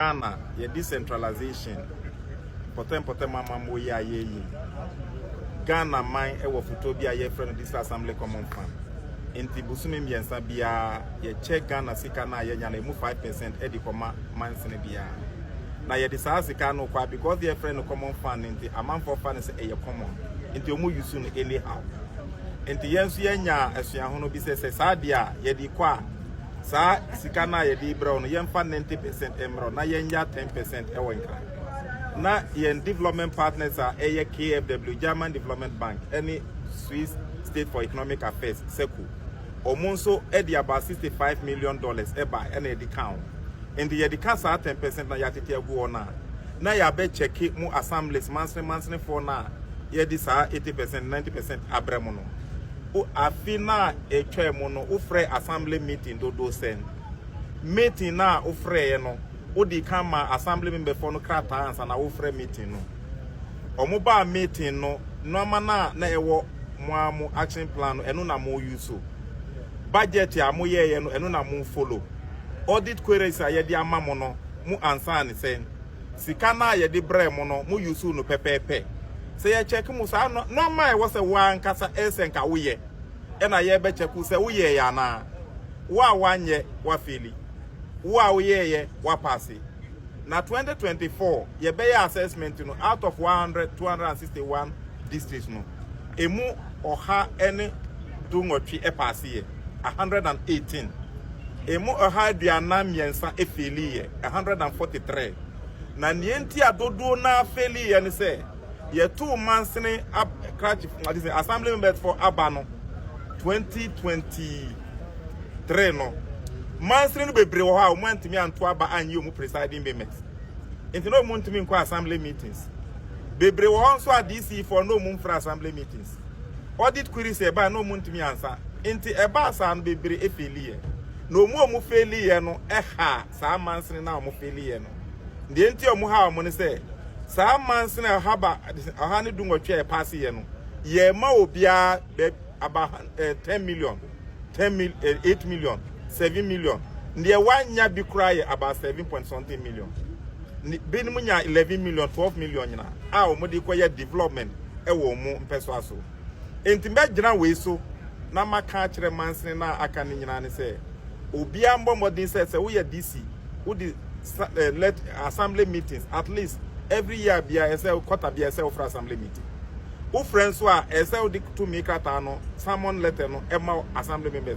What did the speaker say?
Ghana yɛ decentralization mpɔtɛmpɔtɛm amammuo yi a yɛreyi no. Ghana man wɔ fotoɔ bi a yɛfrɛ no District Assembly Common Fund. Nti bosome mmiɛnsa biara yɛkyɛ Ghana sika no a yɛnya no ɛmu 5% ɛde kɔma mansini biara. Na yɛde saa sika no kɔ a because yɛfrɛ no common fund no nti amanfoɔ fa no sɛ ɛyɛ common. Nti wɔn use no anyhow. Nti yɛn nso yɛnya asuahono bi sɛ sɛ saa deɛ a yɛde kɔ a saa sika no a yɛde rebrɛ wo no yɛmfa ninety percent mmerɛ na yɛnya ten percent wɔ nkra na yɛn development partners a ɛyɛ kfw german development bank ne swiss state for economic affairs sɛku wɔn nso de aba sixty five million dollars ɛba ɛna yɛde ka ho nti yɛde ka saa ten percent na yɛatete agu hɔ no a na yɛabɛkyɛke mu assemblies mansene mansenefoɔ no a yɛde saa eighty percent ninety percent abrɛ mu no O Afe no a etwaam no, wofrɛɛ Assembly meeting dodow sɛn? Meeting no a wofrɛeɛ no, wodii kan maa Assembly memberfoɔ no krataa ansa na worefrɛ meeting no? Wɔbaa meeting no, nnoɔma no a na ɛwɔ mo ara mo action plan no, ɛno na mo use? Budget a moyɛeɛ no, ɛno na mo follow? Audit queries a yɛde ama mo no, mo answer ne sɛn? Sika no a yɛde brɛɛ mo no, mo use no pɛpɛɛpɛ. Sɛ yɛ check mo saa no, nɔɔma a ɛwɔ sɛ wo ara ankasa ɛyɛ sɛ nka wo yɛ ɛna yɛ bɛ check wo sɛ wo yɛɛ yɛ anaa. Wo a w'anyɛ, wa feli. Wo a wo yɛɛ yɛ, wa paase. Na 2024 yɛ bɛ yɛ assessment no out of 100, 261 districts no. emu ɔha ne du nwɔtwe ɛpaaseeɛ, 118, emu ɔha aduanan mmiɛnsa ɛfeeliiɛ, 143, na neɛ nti a dodoɔ no ara fɛliiɛ ne sɛ yɛtoo mansini ab krakye ade sɛ assembly members for aba no 2023 no mansini no bebree wɔ hɔ a wɔn antumi anto aba anyɛ wɔn presiding members nti na wɔn ntumi nkɔ assembly meetings. Bebree wɔ hɔ nso a DC foɔ na ɔmu mfra assembly meetings. Audit queries a ɛbae na ɔmu ntumi ansa. Nti ɛbaa saa no bebree efeeliiɛ. Na ɔmu a ɔmu feeliiɛ no ɛhaa saa mansini no a ɔmu feeliiɛ no. Deɛ nti a ɔmu haa ɔmu ne sɛ, saa mansini a ɔha ba, ɔha ne du nwɔtwe a yɛpaasiiɛ no, yɛɛma obiara baabi. aba eh, ten million ten mil eh, eight million seven million ndeɛ wanya bi koraa yɛ aba seven point something million binom nya eleven million twelve million nyina a wɔn de kɔyɛ development ɛwɔ eh, wɔn mpɛsoa so nti mbɛgyina wei so na maka akyerɛ mansini na aka ne nyinaa ne sɛ obiara mbɔ mmɔden sɛ sɛ woyɛ dc wode eh, let assembly meetings at least every year bia ɛsɛ kɔta bia ɛsɛ wofra assembly meeting Wofrɛ nso a, ɛsɛ sɛ wode tumi krataa no, summon letter, no ma Assembly members.